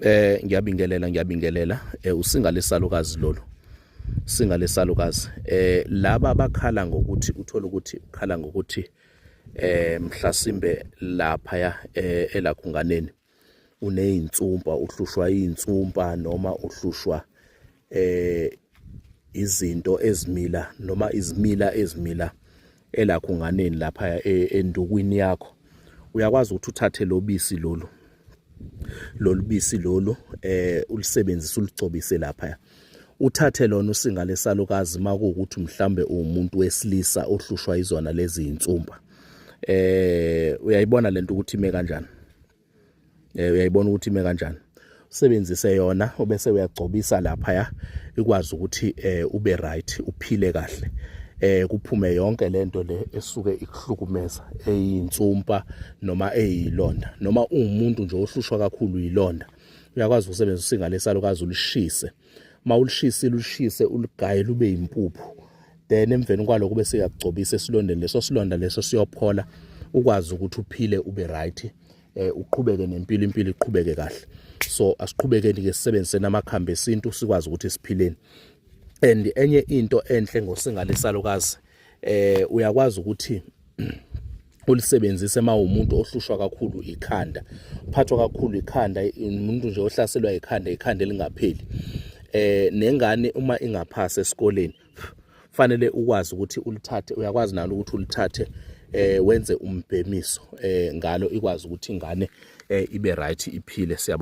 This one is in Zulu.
eh ngiyabingelela ngiyabingelela eh, usinga lesalukazi lolu singa lesalukazi eh laba abakhala ngokuthi uthola ukuthi ukhala ngokuthi eh mhlasimbe lapha ya eh, elakhunganeni unezinsumpa uhlushwa izinsumpa noma uhlushwa eh izinto ezimila noma izimila ezimila elakhunganeni lapha e, endukwini yakho uyakwazi ukuthi uthathe lobisi lolu lolubisi lolu eh ulisebenzisa uligcobise lapha uthathe lona usinga lesalukazi makuwukuthi mhlambe umuntu wesilisa ohlushwa izona lezi insumba eh uyayibona lento ukuthi ime kanjani eh, uyayibona ukuthi ime kanjani usebenzise yona obese uyagcobisa lapha ya ikwazi ukuthi eh, ube right uphile kahle eh kuphume yonke lento le esuke ikuhlukumeza eyinsumpa noma eyilonda noma ungumuntu nje ohlushwa kakhulu yilonda uyakwazi ukusebenzisa usinga lesalukazi ulishise mawulishise lushise uligaye lube impuphu then emveni kwaloko bese uyakugcobisa esilondeni leso silonda leso siyophola ukwazi ukuthi uphile ube right eh uqhubeke nempilo impilo iqhubeke kahle so asiqhubekeni ke sisebenzise namakhambi esintu sikwazi ukuthi siphileni and enye into enhle ngosingalesalokazi eh uyakwazi ukuthi ulisebenzise uma umuntu ohlushwa kakhulu ikhanda uphathwa kakhulu ikhanda umuntu nje ohlaselwa ikhanda ikhanda elingapheli eh nengane uma ingaphasa esikoleni fanele ukwazi ukuthi ulithathe uyakwazi nalo ukuthi ulithathe eh wenze umbhemiso eh ngalo ikwazi ukuthi ingane eh ibe right iphile siyabo